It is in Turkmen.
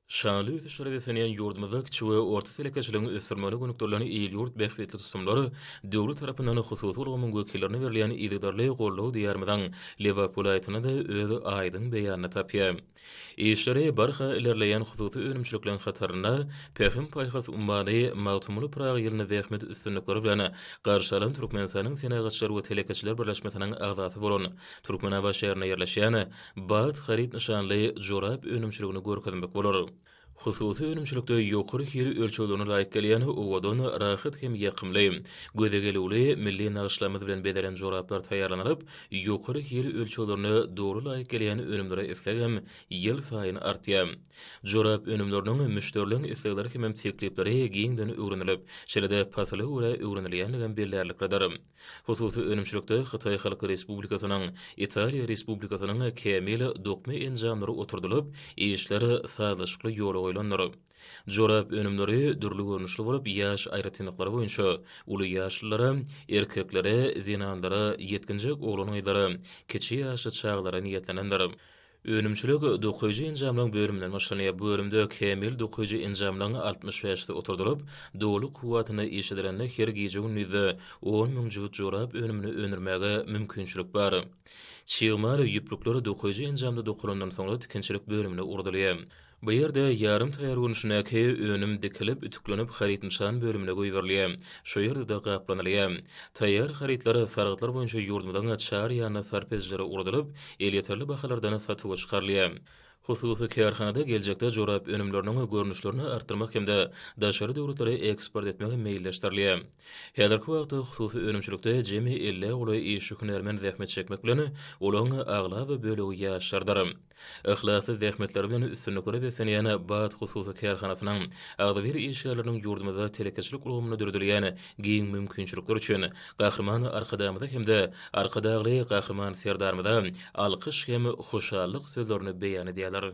Şanly ösüşlere beslenýän ýurdumyzda kiçi we orta telekeçiligiň ösdürilmegine gönükdirilen il-ýurt bähbitli tutumlar döwlet tarapyndan hususy ulgamyň wekillerine berilýän yzygiderli goldaw Diýarymyzyň Lebap welaýatynda-da öz aýdyň beýanyny tapýar. Işleri barha ilerleýän hususy önümçilikleriň hatarynda Pähim-paýhas ummany Magtymguly Pyragy ýylyny zähmet üstünlikleri bilen garşy alan Türkmenistanyň Senagatçylar we telekeçiler birleşmesiniň agzasy bolan Türkmenabat şäherinde ýerleşýän Bagt haryt nyşanly jorap önümçiligini görkezmek bolar. Hususy önümçilikde ýokary hil ölçeglerine laýyk gelýän owadan, rahat hem ýakymly, göze gelüwli milli nagyşlarymyz bilen bezelen joraplar taýýarlanylyp, ýokary hil ölçeglerine dogry laýyk gelýän önümlere isleg hem ýylsaýyn artýar. Jorap önümleriniň müşderileriň islegleri hemem teklipleri giňden öwrenilip, şeýle-de pasla görä öwrenilýändigem bellärliklidir. Hususy önümçilikde Hytaý Halk Respublikasynyň, Italiýa Respublikasynyň kämil dokma enjamlary oturdylyp, işler sazlaşykly ýola goýlandyr. Jorap önümleri dürli görnüşli bolup, ýaş aýratynlyklary boýunça uly ýaşlylara, erkeklere, zenanlara, ýetginjek oglan-gyzlara, kiçi ýaşly çagalara niýetlenendir. Önümçilik dokaýjy enjamlaryň bölüminden başlanýar. Bu bölümde kämil dokaýjy enjamlaryň altmyş bäşisi oturdylyp, doly kuwwatyna iş edilende her gije-gündizde on müň jübüt jorap önümini öndürmäge mümkinçilik bar. Çig mal, ýüplükler dokaýjy enjamda dokalandan soňra tikinçilik bölümine ugradylýar. Bu ýerde ýarym taýýar görnüşindäki önüm dikilip, ütüklenip haryt-nyşan bölümine goýberilýär. Şu ýerde-de gaplanylýar. Taýýar harytlar sargytlar boýunça ýurdumyzyň çar ýanly sarp edijilere ugradylyp, elýeterli bahalardan satuwa çykarylýar. Hususy kärhanada geljekde jorap önümleriniň görnüşlerini artdyrmak hem-de daşary döwletlere eksport etmek meýilleşdirilýär. Häzirki wagtda hususy önümçilikde jemi ellä golaý işçi-hünärmen zähmet çekmek bilen, olaryň aglaba bölegi ýaşlardyr. Yhlasly zähmetleri bilen üstünliklere beslenýän Baat hususy kärhanasynyň agzybir işgärleriniň ýurdumyzda telekeçilik ulgamynda döredilýän giň mümkinçilikler üçin Gahryman Arkadagymyza hem-de Arkadagly Gahryman Serdarymyza alkyş hem hoşallyk sözlerini beýan edýärler.